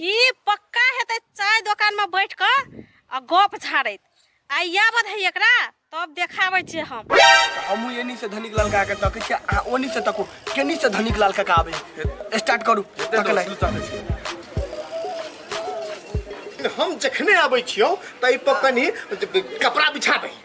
ई पक्का हेतै चाय दोकानमे बैठ कऽ आ गप झाड़ैत आ इएह बधै एकरा तब देखाबै छियै हम हमहूँ एनी से धनिक लाल काका तकै छियै आ ओनी से तको केनी से धनिक लाल काका आबै स्टार्ट करू तकनाइ हम जखने आबै छियौ तऽ एहि पर कनि कपड़ा बिछाबै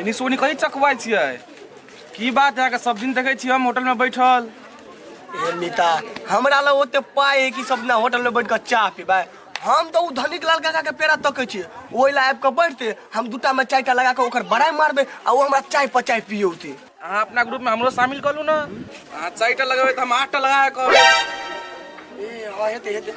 एनी सोनी कथी चकबै छियै की बात अहाँके सब दिन देखै छियै हम होटलमे बैठल ए मीता हमरा लग ओते पाइ है कि सब ना होटल में बैठ कर चाह पीबे हम तो उ धनिक लाल काका के पेड़ा तकै छी ओइ ला आबि के बैठते हम दूटा में चाय टा लगा के ओकर बड़ाई मारबे आ ओ हमरा चाय पर चाय पियौते अहाँ अपना ग्रुपमे हमरो शामिल कऽ लू ने अहाँ चारिटा लगेबै तऽ हम आठटा लगा कऽ कहबै ए हाँ हेते हेते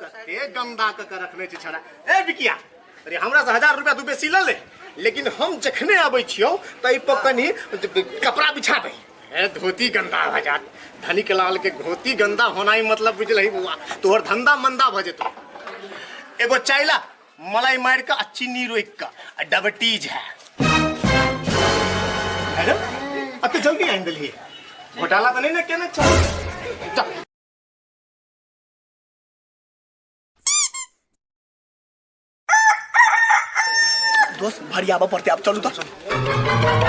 कते गंदा क के रखने छी छड़ा ए बिकिया अरे हमरा से हजार रुपया तू बेसी ले ले लेकिन हम जखने आबै छियौ त ई पर कनी कपड़ा बिछा दे ए धोती गंदा भ जात धनिक लाल के धोती गंदा होनाई मतलब बुझलही बौआ तोहर धंधा मंदा भ जेतौ एगो चाइला मलाई मार के आ चीनी रोक के आ डायबिटीज है मैडम अत जल्दी आनि देलिए घोटाला तो नहीं ना केना चल दोस्त भरियाबऽ पड़तै आब चलू तऽ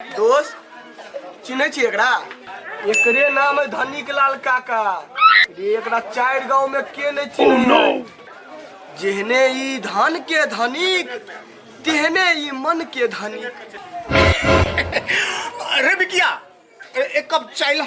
दोस्त चिन्है छी एकरा एकरे नाम है धनिक लाल काका रे एकरा चारि गांव में के नहीं चिन्है है जेहने ई धन के धनिक तेहने ई मन के धनिक अरे बिकिया ए- एक कप चाय ला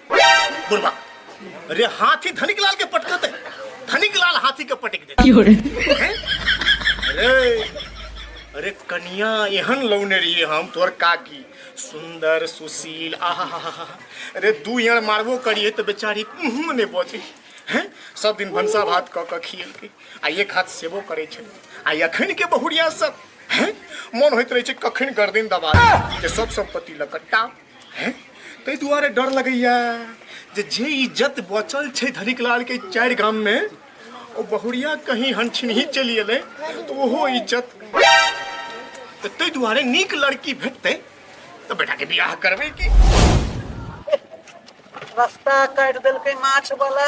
बुढ़वा अरे हाथी धनिक लाल के पटकते धनिक लाल हाथी के पटक दे हैं? अरे अरे कनिया एहन लौने रहिए हम तोर काकी सुंदर सुशील आहा हा हा अरे दू यार मारबो करिए तो बेचारी मुँह ने बचे हैं सब दिन भनसा भात कऽ कऽ खियल के आ एक हाथ सेबो करे छल आ अखन के बहुरिया सब हैं मन होइत रहे छै कखन गर्दन दबा दे। जे सब संपत्ति लकट्टा ताहि दुआरे डर लगैया जे जे इज्जत बचल छै धनिक लाल के चारि गाम में ओ बहुरिया कहीं हनछिनही चलि एलै तऽ ओहो इज्जत तऽ ताहि दुआरे नीक लड़की भेटतै तऽ बेटा के बियाह करबै की रास्ता काटि देलकै माछ वाला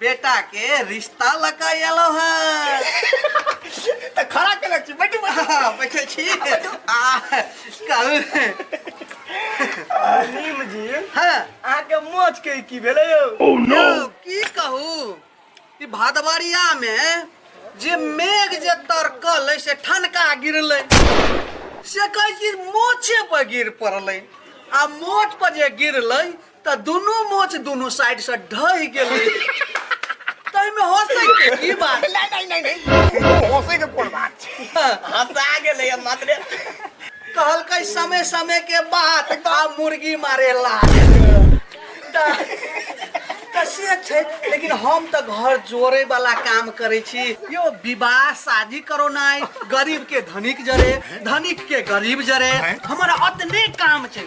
बेटा के रिश्ता लगा एलो है तऽ खड़ा के लग छी बैठू बैठू हाँ, बैठे छी आ कहू नीम जी हाँ अहाँके मोच के की भेलै यौ यौ, की कहू ई भादवरिया मे जे मेघ जे तरकल से ठनका गिरलै से कहै छी मोछे पर गिर पड़लै आ मोछ पर जे गिरलै तऽ दुनू मोच दुनू साइड से ढहि गेलै तैमे हंसै के की बात नहीं नहीं नहीं नहीं हंसे के कोन बात छै हंसा गेले हम मात्र कहलकै समय समय के बात आ मुर्गी मारे लात तऽ तऽ से छै लेकिन हम तऽ घर जोड़े वाला काम करै छी यो विवाह शादी करो नाइ गरीब के धनिक जरे धनिक के गरीब जरे हमरा अतने काम छै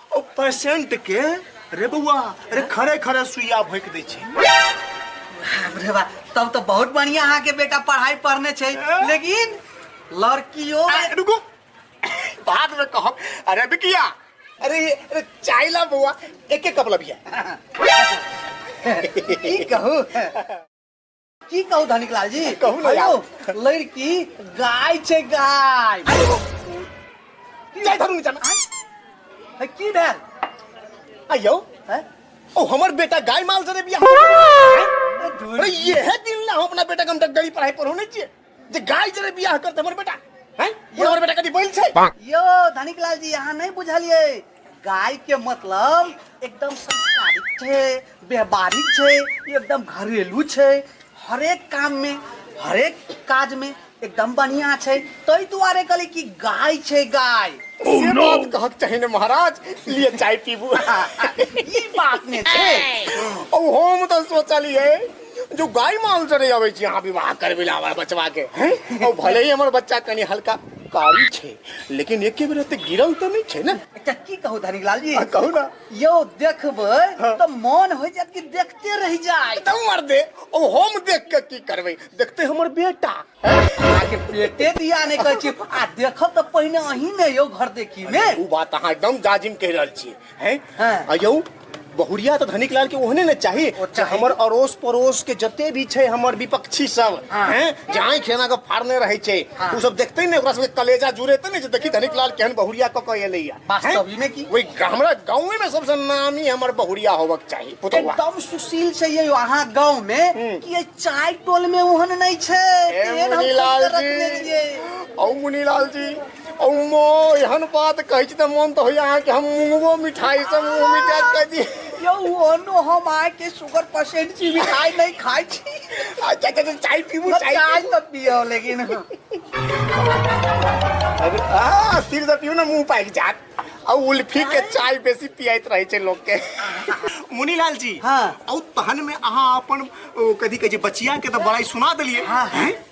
ओ पेशेंट के रे बउआ अरे खड़े खड़े सुइया भोंक दै छै बाप रे बा तब तो बहुत बढ़िया अहाँ के बेटा पढ़ाई पढ़ने छै लेकिन लड़कियों आ, में- रुको बाद में कहब अरे बिकिया अरे ये- अरे चाय ला बउआ एक एक कप लबिया की कहू की कहू धनिक लाल जी कहू ने यार। हेलो, लड़की गाय छै गाय जाय धरू नीचा में। है, की भेल आइयो है? ओ हमर बेटा गाय माल से रे बियाह अरे ये है दिन ना हम अपना बेटा के हम डगडगी पढ़ाई पढ़ौने छियै जे गाय जरे बियाह करते हमर बेटा हैं ये हमर बेटा कदी बैल छै यो धनिक लाल जी यहाँ नहीं बुझलिए गाय के मतलब एकदम संस्कारिक छे व्यवहारिक छे एकदम घरेलू छे हरेक काम में हरेक काज में एकदम बढ़िया छे तई दुआरे कहली कि गाय छे गाय oh, से बात कहक चाहे ने महाराज लिए चाय पीबू ई बात ने छे ओ हम तो सोचलिए जो गाय माल चले जावे छी अहाँ विवाह करबे ला हमर बचवा के हैं और भले ही हमर बच्चा कनी हल्का कारी छे लेकिन एके बेर ते गिरल तो नहीं छे ना एकटा की कहू धनिक लाल जी आ, कहू ना यौ देखबै हाँ। तऽ मोन होइ जायत कि देखते रहि जाय एकदम मर दे ओ हम देख के की करबे देखते हमर बेटा हैं? अहाँके पेटे दिया नहि कहै छी आ देखब तऽ पहिने अहीं ने यौ घर देखी मे ओ बात अहाँ एकदम जाजिम कह रहल छी है हाँ। आ यौ बहुरिया तो धनिक लाल के ओहने ने चाही ओ जे चाही। हमर अड़ोस पड़ोस के जते भी छै हमर विपक्षी सब हाँ। हैं जे आँखि खेना के फाड़ने रहै छै हाँ। उ सब देखते ने ओकरा सबके कलेजा जुड़ेते ने जे देखी धनिक लाल केहन बहुरिया क के एलैया वास्तव ही में की? ओइ हमरा गाँवे में सबसे नामी हमर बहुरिया होबक चाही पुतौआ एकदम सुशील छै यौ अहाँ गांव में कि ये चाय टोल में ओहन नहीं छै ए तेहन हम मुनीलाल खोज के रखने जी छियै। औ मुनीलाल जी अम्मो एहन बात कहै छी तऽ मन तऽ होइए अहाँके हम मुँहो मिठाइसँ मुँह मिठाइ कऽ दी यौ ओनो हम अहाँके शुगर पेशेंट छी मिठाइ नहि खाइ छी अच्छा अच्छा चाय पीबू चाय चाय तऽ पियो लेकिन हँ सिर तऽ पियू ने मुँह पाकि जात आ उल्फी के चाय बेसी पियाइत रहै छै लोकके मुनीलाल जी हाँ। औ तहन में अहाँ अपन ओ, कथी कहै छै बचिया के तऽ बड़ाई सुना देलिए हाँ, हाँ।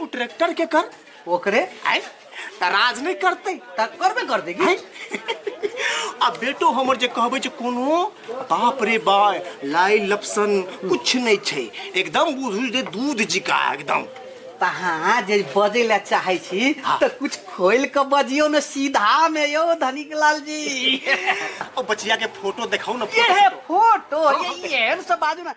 ओ ट्रैक्टर के कर ओकरे आय त राज नहीं करते त करबे कर देगी आय आ बेटो हमर जे कहबे जे कोनो बाप रे बा लाई लपसन कुछ नहीं छै एकदम बुझू जे दूध जिका एकदम तहाँ जे बजे ला चाहे छी हाँ। त कुछ खोल के बजियो न सीधा में यो धनिक लाल जी ओ बचिया के फोटो देखाओ ना ये है फोटो ये ये सब बाजू ना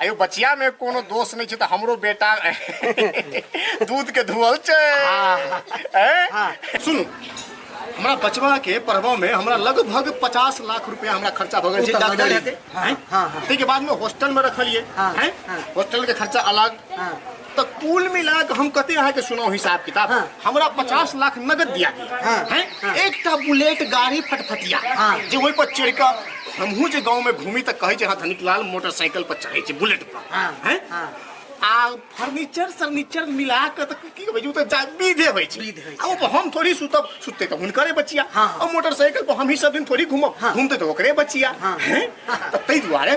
अयो बचिया में कोनो दोष नहीं छे तो हमरो बेटा दूध के धुअल छे हाँ। हाँ। सुन हमरा बचवा के पढ़वा में हमरा लगभग पचास लाख रुपया हमरा खर्चा भ गए डॉक्टर हाँ, हाँ, हाँ। के बाद में हॉस्टल में रखलिए हाँ, हाँ। हॉस्टल के खर्चा अलग हाँ। तो कुल मिला के हम कहते यहाँ के सुनाओ हिसाब किताब हाँ। हमरा पचास लाख नगद दिया गया हाँ। हैं? हाँ। एक टा बुलेट गाड़ी फटफटिया हाँ। जे वही पर चढ़ के हमहू जे गांव में घूमी तक कहे छे हाँ धनिक लाल मोटरसाइकिल पर चढ़े छे बुलेट पर हाँ, हैं? हाँ। आ फर्नीचर सर्नीचर मिला के तक की कहबे जे उ त जा विधे होय छे विध होइ छै। आ ऊपर हम थोड़ी सुतब सुतते तो हुनकरे बचिया हाँ। और मोटरसाइकिल पर हम ही सब दिन थोड़ी घूमब हाँ। घूमते तो ओकरे बचिया हाँ। हैं? तो तै दुआरे